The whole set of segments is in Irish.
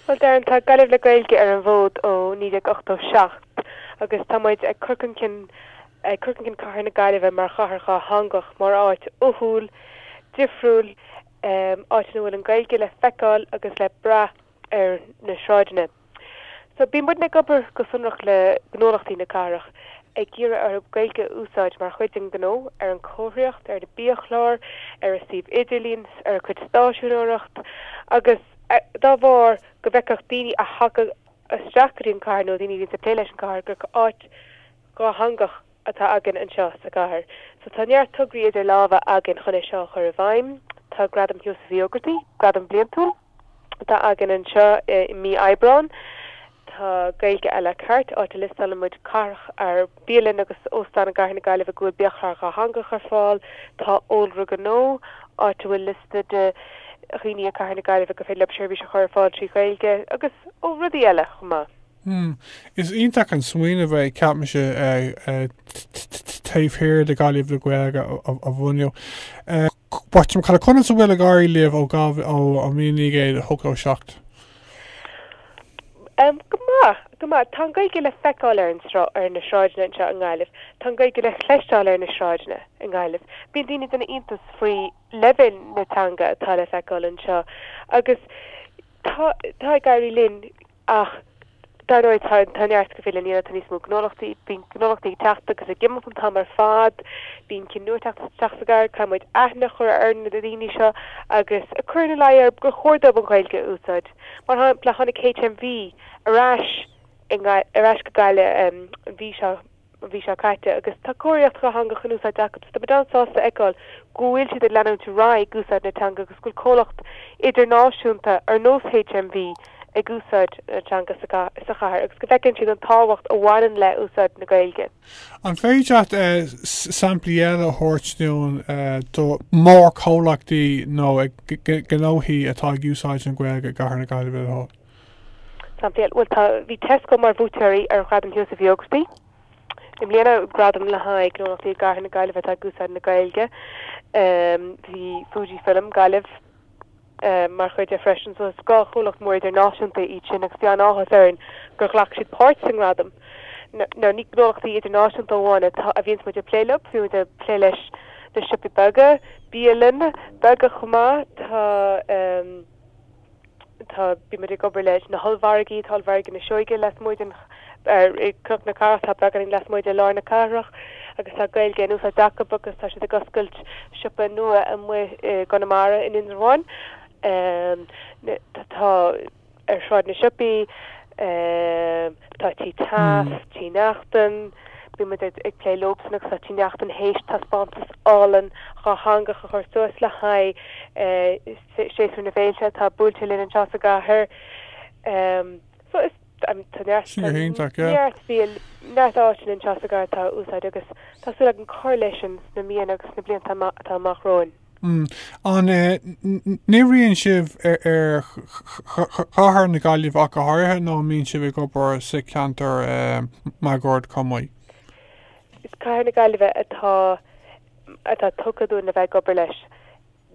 Bhuel Darren, tá Gaillimh le Gaeilge ar an bhfód ó 1987 agus tá muid ag cur chun cinn ag cur chun cinn cathair na Gaillimhe mar chathair dhátheangach, mar áit uathúil, difriúil, áit ina bhfuil an Ghaeilge le feiceáil agus le brath ar na sráideanna. So bíonn muidne ag obair go sonrach le gnólachtaí na cathrach. ag iarraidh orthu Gaeilge a úsáid mar chuid den ghnó, ar an chomharthaíocht, ar na biachláir, ar a suíomh idirlín, ar a gcuid stáiseanóireacht agus dá bharr go bhfeicfeadh daoine a thagadh isteach go dtí an chathair nó daoine a bhíonns ag plé leis an chathair gur áit dhátheangach atá againn anseo sa gcathair. So tá neart tograí idir lámha againn chun é seo a chur i bhfeidhm. Tá Gradam Sheosaimh Uí Ógartaigh, gradam bliantúil, atá againn anseo i mí Aibreán. Tá Gaeilge à la carte, áit a liostálann muid caifí, bialann agus óstán i gcathair na Gaillimhe go bhfuil biachlár dhátheangach ar fáil. Tá Eolaire Gnó, áit a bhfuil liosta de dhaoine i gcathair na Gaillimhe gur féidir leo seirbhís a chur ar fáil trí Ghaeilge. Agus ó rudaí eile chomh maith. Hmm. Is iontach an smaoineamh é, ceapaimse, taobh thiar de Ghaillimh le Gaeilge a bhunú. Bottom, Cad a, conas a bhfuil ag éirí libh ó Gav ó 1987? Em, Go maith, go maith. Tá an Gaeilge le feiceáil ar an sra, ar na sráideanna anseo i nGaillimh. Tá an Gaeilge le cloisteáil ar na sráideanna i nGaillimh. Bíonn daoine ag déanamh iontas faoi leibhéal na teanga atá le feiceáil anseo. Agus tá, tá ag éirí linn Ach dar ndóigh tá tá neart fós le déanamh tá níos mó gnólachtaí bíonn gnólachtaí ag teacht agus ag imeacht an t-am ar fad bíonn cinn nua ag teacht isteach sa gcathair caithfidh muid aithne a chur ar na daoine seo agus ag cur ina luí orthu gur chóir dóibh an Ghaeilge a úsáid. Mar shampla tháinig HMV ar ais i nGaillimh ar ais go Gaillimh an mhí seo mhí seo caite agus tá comharthaíocht dhátheangach in úsáid acu. Tá muid an-sásta a fheiceáil go bhfuil siad ag leanúint ar aghaidh ag úsáid na teanga agus go bhfuil comhlacht idirnáisiúnta ar nós HMV ag úsáid na teanga sa chathair agus go bhfeiceann siad an tábhacht a bhaineann le úsáid na Gaeilge. An féidir leat samplaí eile a thabhairt dúinn do mhórchomhlachtaí nó gnóthaí atá ag úsáid na Gaeilge i gcathair na Gaillimhe le do thoil? Samplaí eile, bhuel, tá, bhí Tesco mar bhuaiteoirí ar Ghradam Sheosaimh Uí Ógartaigh i mbliana, gradam le haghaidh gnólachtaí i gCathair na Gaillimhe atá ag úsáid na Gaeilge. Bhí Fujifilm Gaillimh mar chuid de freisin, so is dhá chomhlacht mór idirnáisiúnta iad sin agus bhí an-áthas orainn gur ghlac siad páirt sa ngradam. Now ní gnólachtaí idirnáisiúnta amháin atá, a bhíonns muid ag plé leo, bíonn muid ag plé leis na siopaí beaga, bialann beaga chomh maith, tá, Tá, bíonn muid ag obair le na hollmhargaí, tá ollmhargaí na Seoige lasmuigh den, ar, i gCnoc na Cathrach, tá beagáinín lasmuigh de lár na cathrach agus tá Gaeilge in úsáid acu agus tá siad ag oscailt siopa nua amuigh i gConamara in Indreabhán. Tá, ar Shráid na Siopaí, tá Tí Taaffes, Tí Neachtain, bíonn muid ag plé leosan agus tá Tí Neachtain théis taispeántas álainn dátheangach a chur suas le haghaidh, Séasúr na bhFéilte atá buailte linn anseo sa gcathair. So is neart áiteanna anseo sa gcathair atá á úsáid agus tá súil againn cur leis sin sna míonna agus sna blianta atá amach romhainn. An n-oibríonn sibh ar Chathair na Gaillimhe ach go háirithe nó an mbíonn sibh ag obair sa cheantar máguaird chomh maith? Is Cathair na Gaillimhe atá tugtha dúinn le bheith ag obair leis.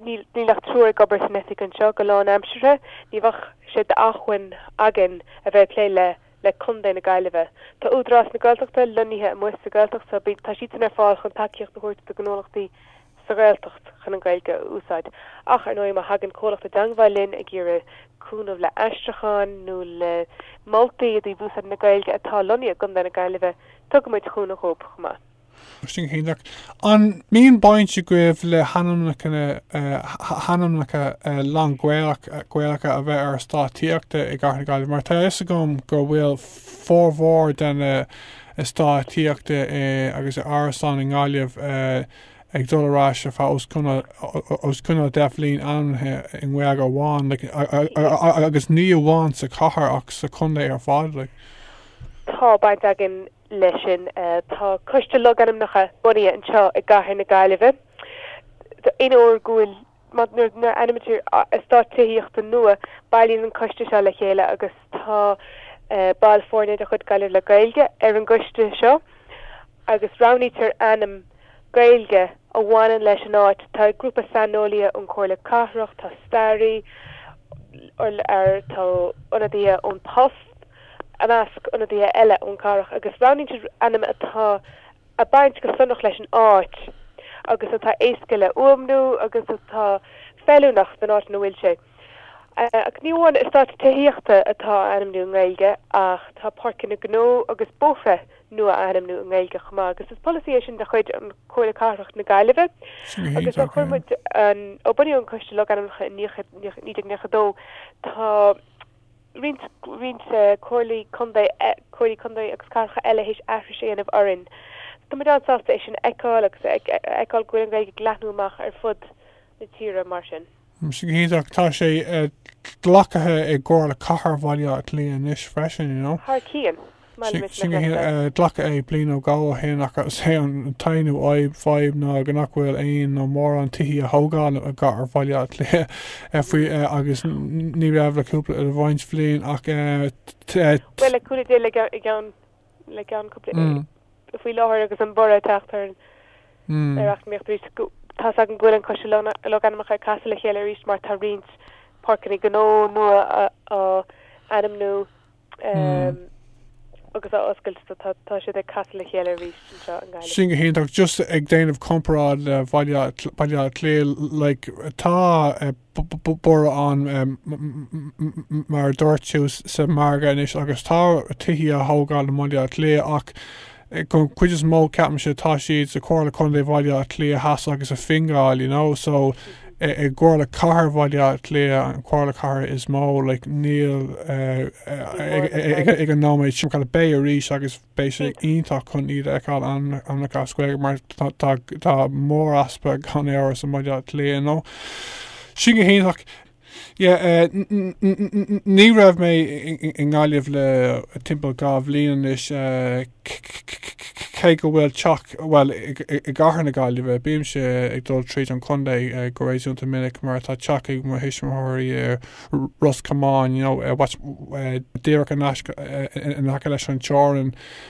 Níl ach triúr ag obair san oifig anseo go lánaimseartha. Ní bheadh sé d'achmhainn againn a bheith ag plé le le Contae na Gaillimhe. Tá Údarás na Gaeltachta lonnaithe amuigh sa Ghaeltacht so tá siadsan ar fáil chun tacaíocht a thabhairt do ghnólachtaí sa Ghaeltacht chun an Ghaeilge a úsáid ach ar ndóigh má thagann comhlacht i dteangbháil linn ag iarraidh cúnamh le aistriucháin nó le moltaí i dtaobh úsáid na Gaeilge atá lonnaithe i gContae na Gaillimhe tugaimid cúnamh dhóibh chomh maith. An mbíonn baint agaibh le hainmneacha lán-Ghaelacha a bheith ar eastáit tithíochta i gCathair na Gaillimhe? Mar tá a fhios agam go bhfuil formhór de na heastáit tithíochta agus árasáin i nGaillimh ag dul ar ais ar feadh os cionn 10 mbliana ainmnithe i nGaeilge amháin agus ní amháin sa chathair ach sa chontae ar fad. Tá baint againn leis sin tá Coiste Logainmneacha bunaithe anseo i gCathair na Gaillimhe aon uair go bhfuil nuair a ainmnítear eastát tithíochta nua bailíonn an coiste seo le chéile agus tá ball foirne de chuid Gaillimh le Gaeilge ar an gcoiste seo agus roghnaítear ainm Gaeilge a bhaineann leis an áit tá grúpa saineolaithe ón Chomhairle Cathrach tá staraí air tá ionadaithe ón bPost I measc ionadaithe eile ón gcathair agus roghnaíonn siad ainm atá ag baint go sonrach leis an áit agus atá éasca le fuaimniú agus atá feiliúnach don áit ina bhfuil sé. Ach ní amháin eastáit tithíochta atá á ainmniú i nGaeilge ach tá páirceanna gnó agus bóithre nua á ainmniú i nGaeilge chomh maith agus is polasaí é sin de chuid an Chomhairle Cathrach na Gaillimhe agus ó chuir muid an ó bunaíodh an Coiste Logainmneacha in 1992 tá roinnt comhairlí contae comhairlí contae agus cathracha eile théis aithris a dhéanamh orainn so tá muid an-sásta é sin a fheiceáil agus a fheiceáil go bhfuil an Ghaeilge ag leathnú amach ar fud na tíre mar sin. Sin go hiontach. Tá sé glactha i gComhairle Cathair Bhaile Átha Cliath anois freisin, you know. Thar cionn. Sin glacadh é bliain nó dhó ó shin ach is é an t-aon fhadhb ná go nach bhfuil aon nó mórán tithe á thógáil i gCathair Bhaile Átha Cliath faoi agus ní raibh le cúpla roinnt blian ach Bhuel le cúpla déag le gceann le gceann cúpla faoi láthair agus an borradh ag teacht ar an ar eacnamaíocht arís tá áthas orm go bhfuil an coiste logainmneacha ag casadh le chéile arís mar tá roinnt páirceanna gnó nua á ainmniú Um, agus á oscailt so tá tá siad ag casadh le chéile arís anseo i nGaillimh. Sin go hiontach, just ag déanamh comparáid le Bhaile Átha Cl- Baile Átha Cliath, like, tá eh, b- b- b- borradh ann eh, m- m- m- m- mar a dúirt tú, s- sa mhargadh anois agus tá tithe á thógáil i mBaile Átha Cliath ach An chuid is mó ceapaimse tá siad sa Chomhairle Contae Bhaile Átha Cliath Theas agus i Fingal you know so i gComhairle Chathair Bhaile Átha Cliath an Chomhairle Chathair is mó like níl ag an nóiméad sin ach beidh arís agus beidh sé iontach chun iad a fheiceáil ainmneacha as Gaeilge mar tá mór easpa gan amhras i mBaile Átha Cliath you know. Sin go hiontach. Yeah, uh, ní raibh mé i nGaillimh le timpeall dhá bhliain anois uh, cé go bhfuil teach bhuel i gcathair na Gaillimhe bímse ag dul tríd an chontae uh, go réasúnta minic mar tá teach ag mo thuismitheoirí i Ros Comáin, you know, uh, díreach in aice leis an teorainn.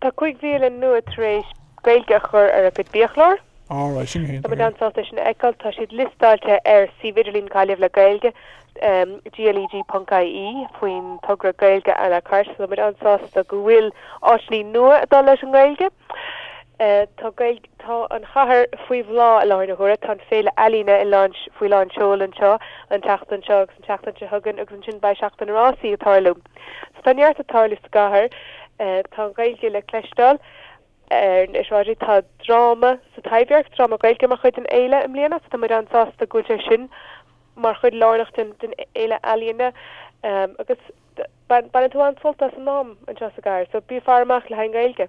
Tá cúig bhialann nua tar éis Gaeilge a chur ar a gcuid biachlár. All right, sin iontach. Tá muid an-sásta é sin a fheiceáil. Tá siad liostáilte ar suíomh idirlín Ghaillimh le Gaeilge, gleg.ie, faoin togra Gaeilge à la carte. Tá muid an-sásta go bhfuil áiteanna nua ag dul leis an nGaeilge. Tá an chathair faoi bhláth i láthair na huaire. Tá an féile ealaíne faoi lán seoil anseo an tseachtain seo. An tseachtain seo chugainn agus ansin beidh seachtain na rásaí ag tarlú. So tá neart ag tarlú sa gcathair. Tá an Ghaeilge le cloisteáil ar na sráideanna. Tá dráma sa Taibhdhearc, dráma Gaeilge mar chuid den fhéile i mbliana so tá muid an-sásta go bhfuil sé sin mar chuid lárnach den fhéile ealaíne agus bainfidh tú an-sult as an am anseo sa gcathair so bí ag faire amach le haghaidh an Ghaeilge.